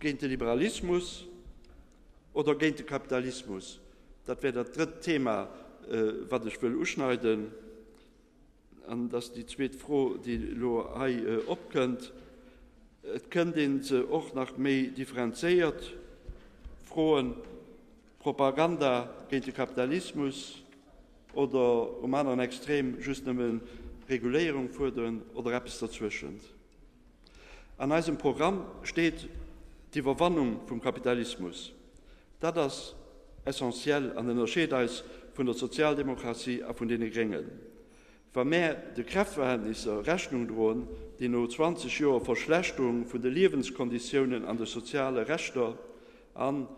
Géint de Liberalismus oder géint de Kapitalismus? Dat wär dat drëtt Thema, wat ech wëll uschneiden. An et ass déi zweet Fro, déi elo hei opkënnt. Et kënnt ee se och nach méi differenzéiert froen, Propaganda géint de Kapitalismus oder um aneren Extrem just nëmme Reguléierung fuerderen oder eppes derzwëschent. An eisem Programm steet d'Iwwerwannung vum Kapitalismus. Dat ass essentiel an ënnerscheet eis vun der Sozialdemokratie a vun deene Gréngen. Wa mär de Kräftverhältnisser Rechnung droen, déi no 20 Joer Verschlechterung vun de Liewenskonditiounen an de soziale Rechter an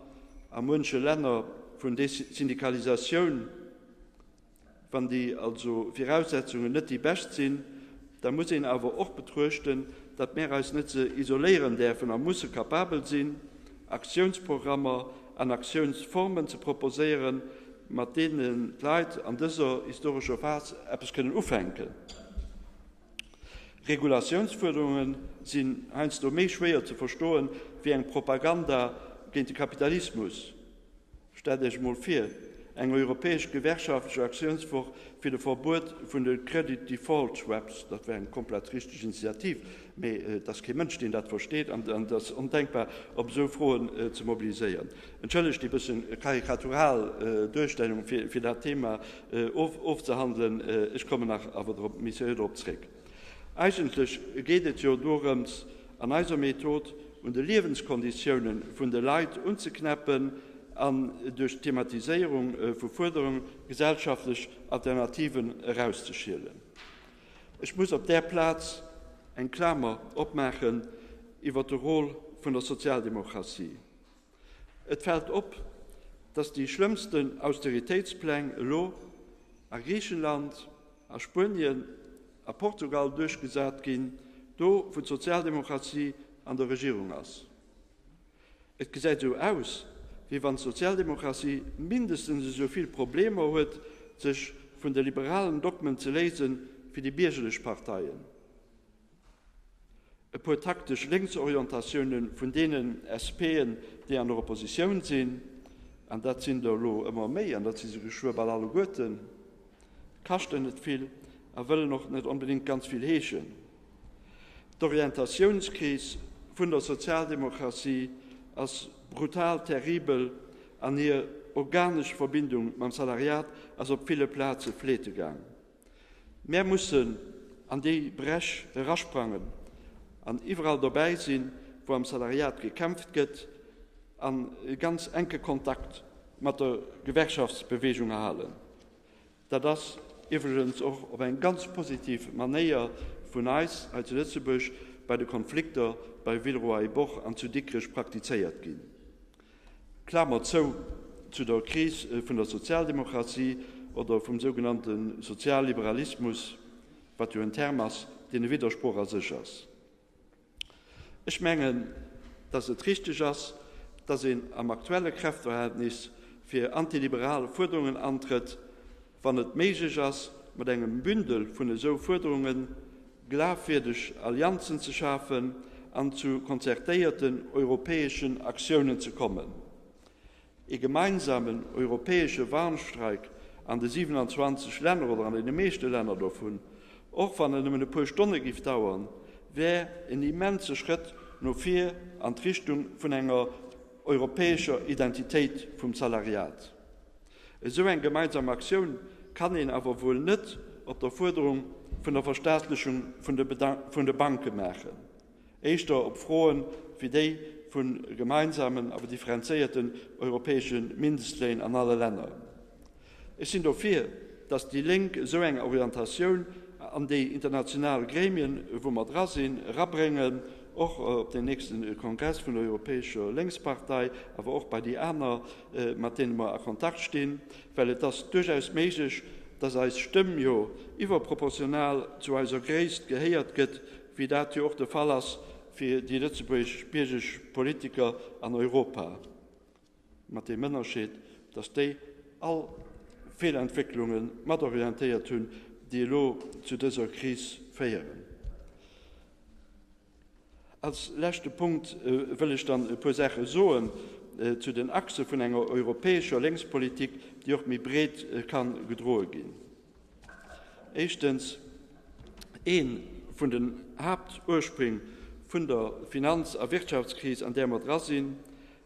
a munche Länner vun Desindikalisatioun, Wann déi also Viraussetzungen net déi bescht sinn, da muss een awer och betruechten, datt mär eis net ze isoléieren däerfen a musse kapabel sinn, Aktiounsprogrammer an Aktiounsformen ze proposéieren, mat deene d'Leit an dëser historescher Phas eppes kënnen ufänken. Regulatiounsfuerderunge sinn heiansdo méi schwéier ze verstoen, wéi eng Propaganda géint de Kapitalismus, Stellt Iech emol vir, eng europäesch gewerkschaftlech Aktiounswoch fir de Verbuet vun de Credit Default Swaps, dat wär eng komplett richteg Initiativ, mee et ass kee Mënsch, deen dat versteet, an et ass ondenkbar, op esou Froen ze mobiliséieren. Entschëllegt déi bësse karikatural Duerstellung, fir dat Thema ofzehandelen, ech kommen awer nach méi seriö dorop zréck. Eigentlech geet et jo dorëms, an eiser Method un de Liewenskonditiounen vun de Leit unzeknäppen an duerch d'Thematiséierung vu Fuerderung gesellschaftlech Alternativen erauszeschielen. Ech muss op där Plaz eng Klamer opmaachen iwwer de Rôle vun der Sozialdemokratie. Et fält op, datt déi schlëmmsten Austeritéitspläng elo a Griichenland, a Spuenien, a Portugal duerchgesat ginn, do wou d'Sozialdemokratie an der Regierung ass. Et gesäit esou aus, wéi wann d'Sozialdemokratie mindestens esou vill Problemer huet, sech vun de liberalen Dogmen ze léisen, wéi déi biergerlech Parteien. E puer taktesch Lénksorientatioune vun deenen SPen, déi an der Oppositioun sinn, an dat sinn der elo ëmmer méi an dat si se geschwë bal alleguerten, kaschten net vill a wëllen och net onbedéngt ganz vill heeschen. D'Orientatiounskris vun der Sozialdemokratie ass brutal, terribel an hir organesch Verbindung mam Salariat ass op ville Plaze fleete gaang. Mär mussen an déi Bréch erasprangen an iwwerall dobäi sinn, wou am Salariat gekämpft gëtt, a ganz enke Kontakt mat der Gewerkschaftsbeweegung halen. Dat ass iwwregens och op eng ganz positiv Manéier vun eis hei zu Lëtzebuerg bei de Konflikter bei Villeroy-et-Boch an zu Dikrech praktizéiert ginn. Klamer zou, Zu der Kris vun der Sozialdemokratie oder vum sougenannte Sozialliberalismus, wat jo en Term ass, deen e Widdersproch a sech ass. Ech mengen, datt et richteg ass, datt een am aktuelle Kräftverhältnis fir antiliberal Fuerderungen antrëtt, wann et méiglech ass, mat engem Bündel vun esou Fuerderunge glafwierdeg Allianzen ze schafen an zu konzertéierten europäeschen Aktiounen ze kommen. Ee gemeinsamen europäesche Warnstreik an de 27 Länner oder an deene meeschte Länner dovun, och wann en nëmmen e puer Stonne géif dauern, wär en immense Schrëtt no vir an d'Richtung vun enger europäescher Identitéit vum Salariat. Esou eng gemeinsam Aktioun kann een awer wuel net op der Fuerderung vun der Verstaatlechung vun de Banke maachen, éischter op Froe wéi déi vu gemeinsamen awer differenzéierten europäesche Mindestléin an alle Länner. Ech sinn dofir, datt déi Lénk esou eng Orientatioun an déi international Gremien, wou mer dra sinn, erabréngen, och op den nächste Kongress vun der Europäescher Lénkspartei, awer och bei déi aner, mat deene mer a Kontakt stinn, well et ass duerchaus méiglech, dass eis Stëmm jo iwwerproportional zu eiser Gréisst gehéiert gëtt, wéi dat jo och de Fall ass fir déi lëtzebuergesch Politiker an Europa. mat deem Ënnerscheed, datt déi all Feelentwécklunge mat orientéiert hunn, déi elo zu dëser Kris féieren. Als leschte Punkt wëll ech dann e puer Saache soen zu den Achse vun enger europäescher Lénkspolitik, déi och méi breet ka gedroe ginn. Éischtens, Ee vun den Haaptursprng vun der Finanz a Wirtschaftskris, an där mer dra sinn,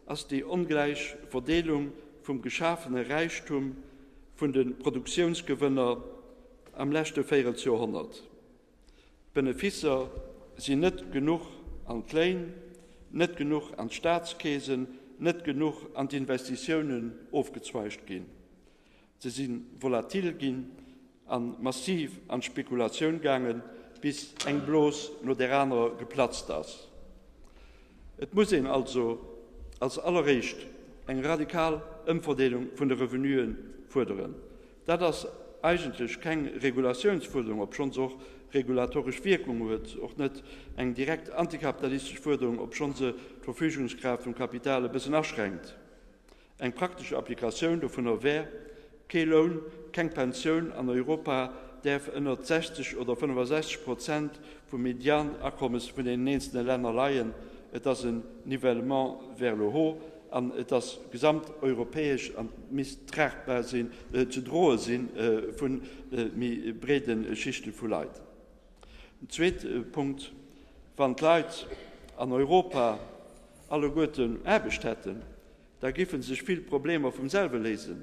ass déi ongläich Verdeelung vum geschafene Räichtum vun de Produktiounsgewënner am leschte Véirelsjorhonnert. D'Beneficer sinn net genuch an d'Léin, net genuch an d'Staatskeesen, net genuch an d'Investitiounen ofgezweigt ginn. Se si volatil ginn a massiv an d'Spekulatioun gaangen, bis eng Blos no där anerer geplatzt ass. Et muss een also als alleréischt eng radikal Ëmverdeelung vun de Revenue fuerderen. Dat ass eigentlech keng Regulatiounsfuerderung, obschonn se och regulatoresch Wierkung huet, och net eng direkt antikapitalistesch Fuerderung, obschonn se d'Verfügungskraaft vum Kapital e bëssen aschränkt. Eng praktesch Applikatioun dovunner wär, Kee Loun, keng Pensioun an Europa däerf ënnert 60 oder 65 Prozent vum Medianakommes vun den eenzele Länner leien. Et ass en Nivellement vers le haut an et ass gesamteuropäesch an misst tragbar sinn, ze droe sinn vu méi breede Schichte vu Leit. En zweete Punkt, Wann d'Leit an Europa alleguerten Aarbecht hätten, da giffe sech vill Problemer vum selwe léisen,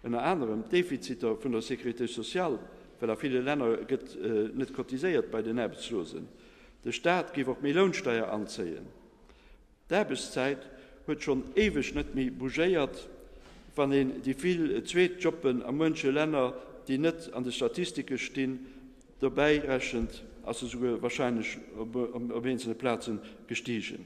ënner anerem d'Defiziter vun der Sécurité sociale, well a ville Länner gëtt net cotiséiert bei den Aarbechtslosen. De Staat géif och méi Lounsteier anzéien. D'Aarbechtszäit huet schonn éiweg net méi bougéiert, wann een déi vill Zweetjoppen a muenche Länner, déi net an de Statistike stinn, Dobäi rechent, ass se souguer warscheinlech op eenzele Plazen gestigen.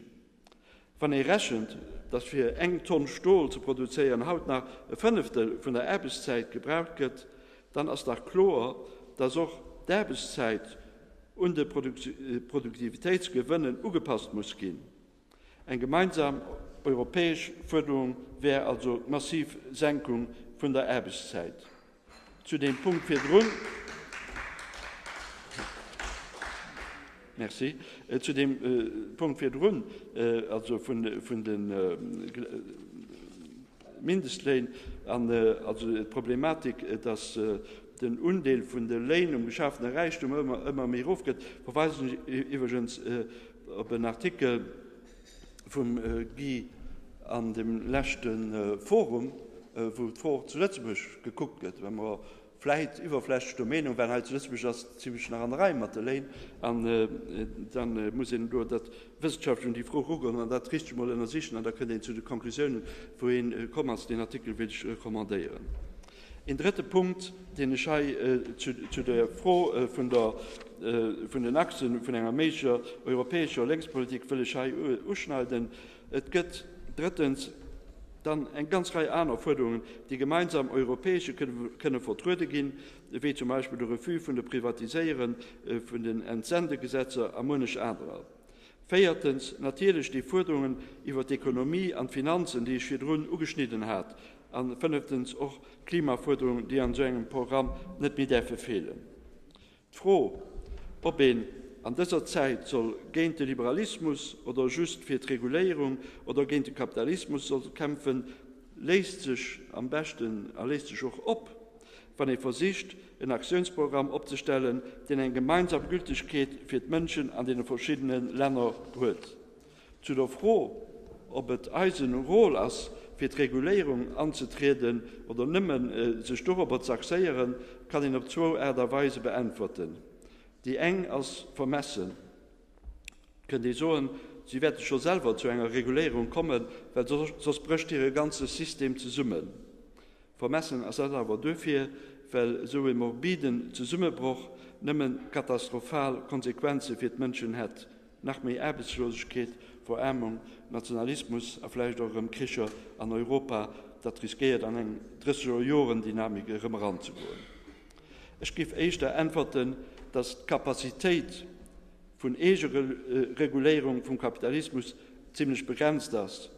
Wann ee rechent, datt fir eng Tonn Stol ze produzéieren haut nach e Fënneftel vun der Aarbechtszäit gebraucht gëtt, dann ass dach kloer, datt och d'Aarbechtszäit un de Produktivitéitsgewënnen ugepasst muss ginn. Eng gemeinsam europäesch Fuerderung wär also d'massiv Senkung vun der Aarbechtszäit. Zu deem Punkt virdrun, Merci. Zu deem Punkt virdrun, also vun vun de Mindestléin an also d'Problematik, datt den Undeel vun de Léin um geschafene Räichtum ëmmer ëmmer méi erofgëtt, verweisen ech iwwregens Op en Artikel vum Guy an dem leschte Forum, wou d'For zu Lëtzebuerg gekuckt gëtt, well mer vläit iwwerflächlech der Meenung waren, hei zu Lëtzebuerg ass et zimlech nach an der Rei mat de Léin, an da muss een elo dat wëssenschaftlech un déi Fro erugoen an dat richteg emol ënnersichen, an da kënnt een zu de Conclusiounen, wou ee komm ass. Deen Artikel wéilt ech recommandéieren. Een drëtte Punkt, deen ech hei zu der Fro vun den Achse vun enger méiglecher europäescher Lénkspolitik wëll ech hei uschneiden, Et gëtt drëttens dann eng ganz Rei aner Fuerderungen, déi gemeinsam europäesche kënne vertruede ginn, wéi zum Beispill de Refus vun de Privatiséieren, vun den Entsendegesetzer a muenech anerer. Véiertens natierlech déi Fuerderungen iwwer d'Ekonomie an d'Finanzen, déi ech virdrun ugeschnidden hat. A fënneftens och d'Klimafuerderungen, déi an esou engem Programm net méi däerfe feelen. D'Fro, ob een an dëser Zäit soll géint de Liberalismus oder just fir d'Reguléierung oder géint de Kapitalismus soll kämpfen, léisst sech am beschten a léisst sech och op, wann ee versicht, en Aktiounsprogramm opzestellen, deen eng gemeinsam Gültegkeet fir d'Mënschen an deene verschiddene Länner huet. Zu der Fro, ob et eisen Rôle ass, fir d'Reguléierung anzetrieden oder nëmme sech dorobber ze axéieren, kann een op zwou Aart a Weise beäntwerten. Déi eng ass vermessen, kënnt ee soen, si wäerte scho selwer zu enger Reguléierung kommen, well soss brécht hire ganze System zesummen. Vermessen ass dat awer duerfir, well esou e morbiden Zesummebroch nëmme katastrophal Konsequenze fir d'Mënschen hätt. Nach méi Aarbechtslosegkeet, Verarmung, Nationalismus a vläicht och erëm Kricher an Europa, dat riskéiert an eng Dréissegerjorendynamik erëm eranzegoen. Ech géif éischter äntwerten, datt d'Capacitéit vun Eegereguléierung vum Kapitalismus zimlech begrenzt ass.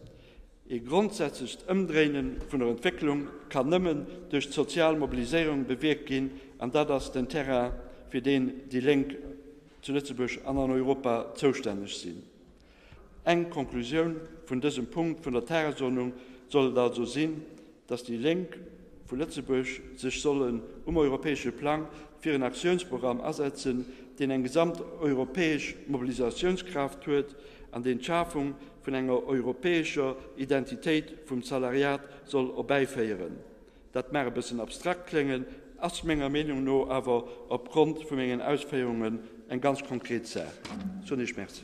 Ee grondsätzlecht Ëmdréine vun der Entwécklung kann nëmmen duerch d'sozial Mobiliséierung bewierkt ginn, an dat ass den Terrain, fir deen déi Lénk zu Lëtzebuerg an an Europa zoustänneg sinn. Eng Konklusioun vun dësem Punkt vun der Tagesordnung soll et also sinn, dass déi Lénk vu Lëtzebuerg sech sollen um europäesche Plang fir en Aktiounsprogramm asetzen, deen eng gesamteuropäesch Mobilisatiounskraaft huet an deen d'Schafung vun enger europäescher Identitéit vum Salariat soll erbäiféieren. Dat mag e bëssen abstrakt kléngen, ass menger Meenung no awer opgrond vu mengen Ausféierungen eng ganz konkret Saach. Soen Iech Merci.